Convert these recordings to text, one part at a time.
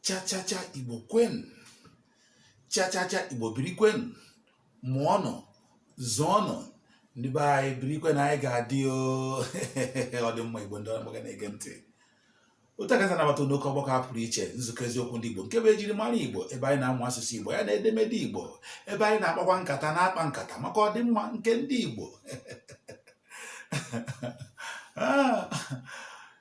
chachacha igbo kwenu chachacha igbo birikwenu mụọnụ zụọnụ ndị be anyị birikwenu anyị ga-adị ọ dị mma igbo ndị ọma na-ege ntị otu a ka e si anabata n'oke ọgbakọ a pụrụ iche nzukọ eziokwu ndị igbo nke bụ ejiri mara igbo ebe anyị na-amụ asụsụ igbo ya na edemede igbo ebe anyị na-akpakwa nkata na-akpa nkata maka ọdịmma nke ndị igbo ah.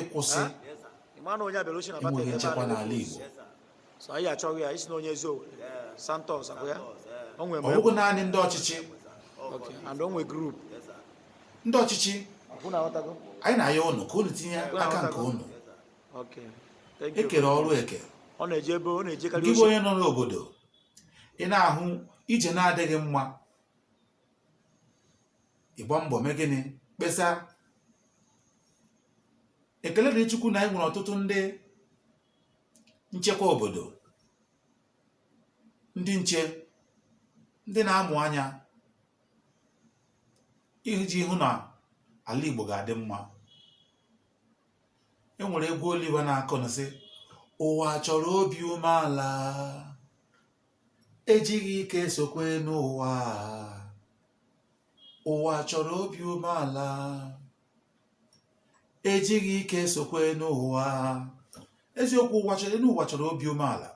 ịkwụsị enweghị nchekwa n'ala Igbo ọ bụghị naanị ndị ọchịchị ndị ọchịchị anyị na-ayọ unu ka unu tinye aka nke unu e kere ọrụ eke gị bụ onye nọ n'obodo ị na-ahụ ije na-adịghị mma ị gbaa mbọ mee gịnị kpesa ekele dịrị chukwu na anyị nwere ọtụtụ ndị nchekwa obodo ndị nche ndị na-amụ anya iji hụ na ala igbo ga-adị mma e nwere egwu oliver na-akụ na-asị ụwa chọrọ obi umeala ejighị ike esokwa enu ụwa ụwa chọrọ obi umeala ejighị ike esokwa enu ụwa eziokwu ụwa chọrọ elu ụwa chọrọ obi umeala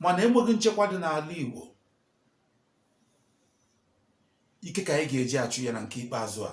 mana enweghị nchekwa dị n'ala Igbo ike ka anyị ga-eji achụ ya na nke ikpeazụ a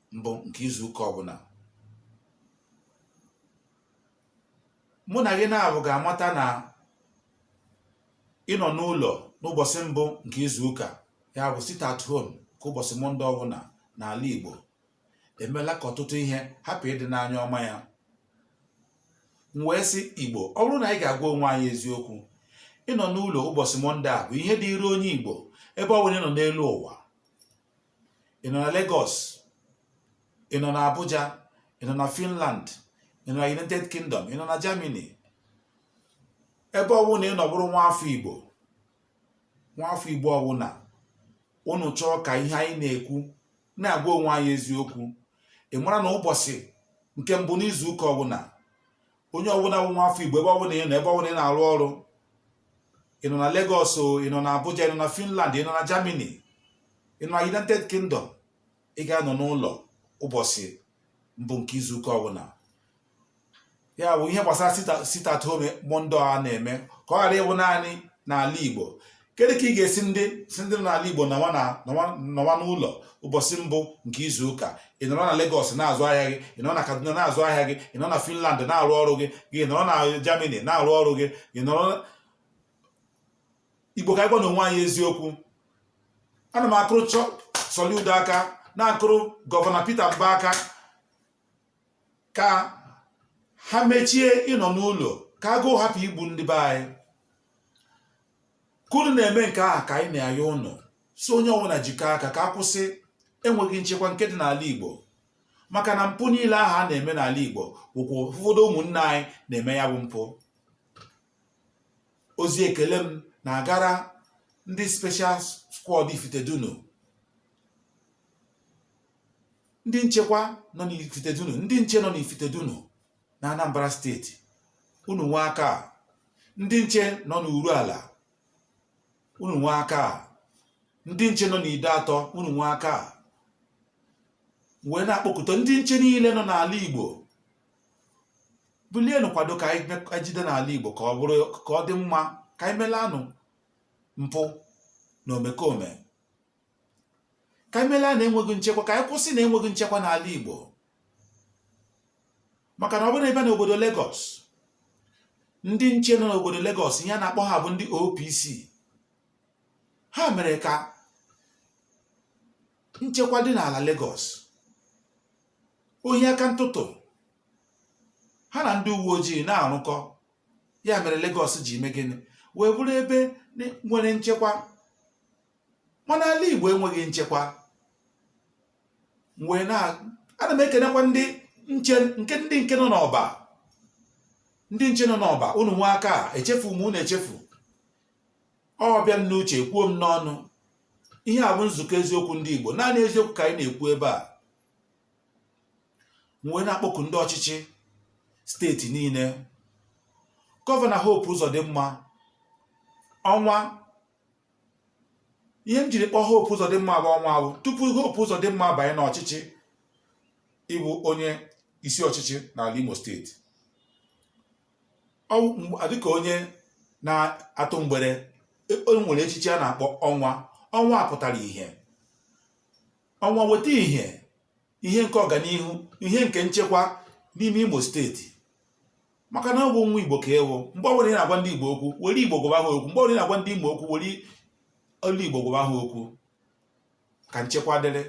mbụ nke izu ụka ọbụla mụ na gị naabọ ga-amata na ịnọ n'ụlọ n'ụbọchị mbụ nke izu ụka ya bụ sit at home nke ụbọchị mọnde ọbụla n'ala Igbo emela ka ọtụtụ ihe hapụ ịdị n'anya ọma ya m wee sị Igbo ọ bụrụ na anyị ga-agwa onwe anyị eziokwu ịnọ n'ụlọ ụbọchị mọnde a bụ ihe dịịrị onye Igbo ebe ọ bụla ị nọ n'elu ụwa ị nọ na Lagos ị nọ na Abuja ị nọ na Finland ị nọ na United Kingdom ị nọ na Germany ebe ọbụla ị nọ bụrụ nwa afọ Igbo nwa afọ Igbo ọbụla unu chọọ ka ihe anyị na-ekwu na-agwa onwe anyị eziokwu ị mara na ụbọchị nke mbụ n'izu ụka ọbụla onye ọbụla bụ nwa afọ igbo ebe ọbụla ị nọ ebe ọbụla ị na-arụ ọrụ ị nọ na Lagos o ị nọ na Abuja ị nọ na Finland ị nọ na Germany ị nọ na United Kingdom ị ga-anọ n'ụlọ ụbọchị mbụ nke izuụka ọbụla ya bụ ihe gbasara sit at home Monday a na-eme ka ọ ghara ịbụ naanị n'ala Igbo kedu ka ị ga-esi ndị sị ndị nọ n'ala igbo nọwa nọwa n'ụlọ ụbọchị mbụ nke izu ụka ị nọrọ na Lagos na-azụ ahịa gị ị nọrọ na Kaduna na-azụ ahịa gị ị nọrọ na Finland na-arụ ọrụ gị ị nọrọ na Germany na-arụ ọrụ gị ị nọrọ igbo ka anyị gwanụ onwe anyị eziokwu ana m akụrụ Charles Soludo aka na-akụrụ gọvanọ Peter Mba aka ka ha mechie ịnọ n'ụlọ ka agụụ hapụ igbu ndị be anyị ka unu na-eme nke ahụ ka anyị na-ayọ unu sị onye ọbụla jikọọ aka ka a kwụsị enweghị nchekwa nke dị n'ala Igbo maka na mpụ niile ahụ a na-eme n'ala Igbo bụkwa ụfọdụ ụmụnne anyị na-eme ya bụ mpụ ozi ekele m na-agara ndị special squad Ifitedunu ndị nchekwa nọ n'ifitedunu ndị nche nọ n'ifitedunu na anambra steeti unu nwe aka a. ndị nche nọ n'uruala unu nwe aka a. ndị nche nọ n'ideato unu nwe aka a. m wee na-akpọkuta ndị nche niile nọ n'ala igbo bulienụ kwado ka anyị jide n'ala igbo ka ọ dị mma ka anyị melanụ mpụ na omekome ka anyị melanụ enweghị nchekwa ka anyị kwụsịnụ enweghị nchekwa n'ala Igbo maka na ọ bụrụ na ị bịa n'obodo Lagos ndị nche nọ n'obodo Lagos ihe a na-akpọ ha bụ ndị OPC ha mere ka nchekwa dị n'ala Lagos ohi aka ntụtụ ha na ndị uwe ojii na-arụkọ ya mere Lagos ji eme gịnị wee bụrụ ebe nwere nchekwa mana ala Igbo enweghị nchekwa m wee na ana m ekenekwa ndị nche nke ndị nke nọ n'ọba ndị nche nọ n'ọba unu nwe aka a echefu m unu echefu ọ bịa m n'uche kwuo m n'ọnụ ihe a bụ nzukọ eziokwu ndị Igbo naanị eziokwu ka anyị na-ekwu ebe a m wee na-akpọku ndị ọchịchị steeti niile gọvanọ Hope Uzodimma ọnwa ihe m jiri kpọọ Hope Uzodimma bụ ọnwa bụ tupu Hope Uzodimma banye n'ọchịchị ịbụ onye isi ọchịchị n'ala Imo steeti dịka onye na-atụ mgbere o nwere echichi a na-akpọ ọnwa ọnwa pụtara ihe ọnwa weta ihe ihe nke ọganihu ihe nke nchekwa n'ime imo steeti maka na ọ bụ nwa igbo ka ị wụ mgbe ọbụla ị na-agwa ndị igbo okwu were igbo gwaba ha okwu mgbe ọbụla ị na-agwa ndị imo okwu were olu igbo gwaba ha okwu ka nchekwa dịrị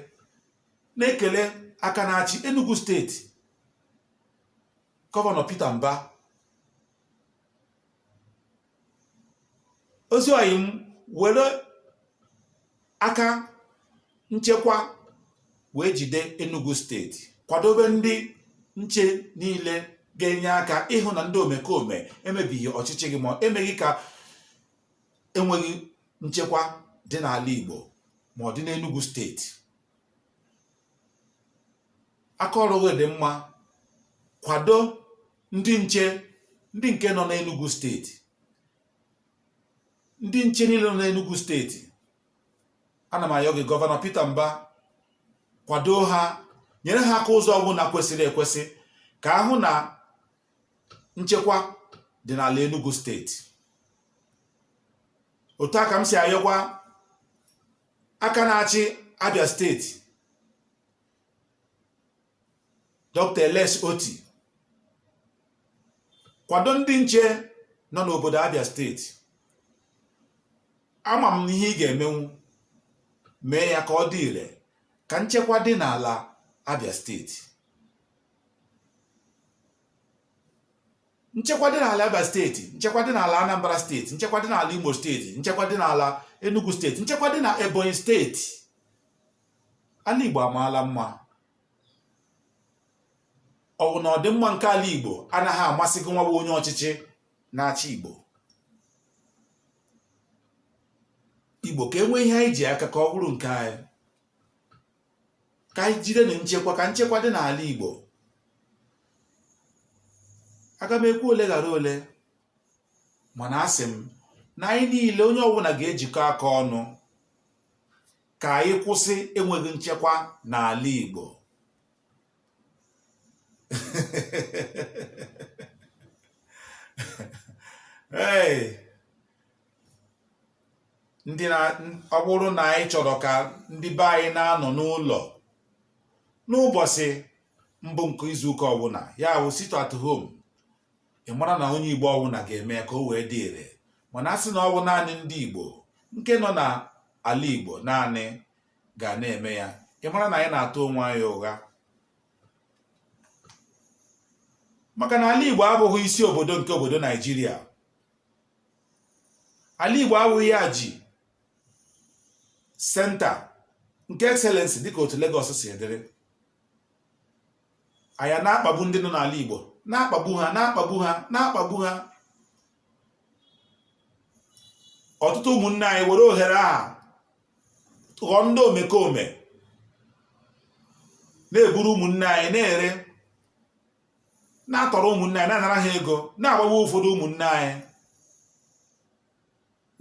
na-ekele aka na-achị enugu steeti gọvanọ peter mba ezi ọyị m were aka nchekwa wee jide Enugu steeti kwadobe ndị nche niile ga-enye aka ịhụ na ndị omekome emebighị ọchịchị gị ma emeghị ka enweghị nchekwa dị n'ala Igbo ma ọ dị n'Enugu steeti aka ọrụ gị dị mma kwado ndị nche ndị nke nọ n'Enugu steeti ndị nche niile nọ n'Enugu steeti ana m ayọ gị gọvanọ Peter Mbah kwado ha nyere ha aka ụzọ ọbụla kwesịrị ekwesị ka a hụ na nchekwa dị n'ala Enugu steeti otu a ka m si ayọkwa aka na-achị Abia steeti Dr. Alex Otti kwado ndị nche nọ n'obodo Abia steeti ama m ihe ị ga-emenwu mee ya ka ọ dị ire ka nchekwa dị n'ala Abia steeti nchekwa dị n'ala Abia steeti nchekwa dị n'ala Anambra steeti nchekwa dị n'ala Imo steeti nchekwa dị n'ala Enugu steeti nchekwa dị na Ebonyi steeti ala Igbo amaala mma ọ bụ na ọdịmma nke ala Igbo anaghị amasị gị nwa wụ onye ọchịchị na-achị Igbo Igbo ka e nwee ihe anyị ji aka ka ọ bụrụ nke anyị ka anyị jidenụ nchekwa ka nchekwa dị n'ala Igbo aga m ekwu ole ghara ole mana asị m na anyị niile onye ọbụla ga-ejikọ aka ọnụ ka anyị kwụsị enweghị nchekwa n'ala Igbo hey ndị na ọ bụrụ na anyị chọrọ ka ndị be anyị na-anọ n'ụlọ n'ụbọchị mbụ nke izuụka ọbụla ya bụ sit at home ị mara na onye igbo ọbụla ga-eme ya ka o wee dị ire mana a sị na ọ bụ naanị ndị igbo nke nọ na ala igbo naanị ga na-eme ya ị mara na anyị na-atụ onwe anyị ụgha maka na ala igbo abụghị isi obodo nke obodo naijiria ala Igbo awụghị ya ji senta nke excellency dịka otu Lagos si edere a ya na-akpagbu ndị nọ n'ala Igbo na-akpagbu ha na-akpagbu ha na-akpagbu ha ọtụtụ ụmụnne anyị were ohere a ghọọ ndị omekome na-eburu ụmụnne anyị na-ere na-atọrọ ụmụnne anyị na-anara ha ego na-agbagbu ụfọdụ ụmụnne anyị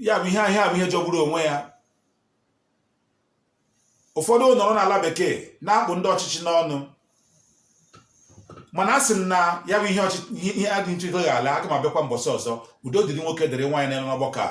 ya bụ ihe ihe a bụ ihe jọgburu onwe ya ụfọdụ nọrọ n'ala bekee na-akpụ ndị ọchịchị n'ọnụ mana asị m na ya bụ ihe ọchị- ihe ihe adị ntụ ego ga-ala aga m abịakwa mbọsị ọzọ udo dịrị nwoke dịrị nwaanyị na-anọ n'ọgbakọ a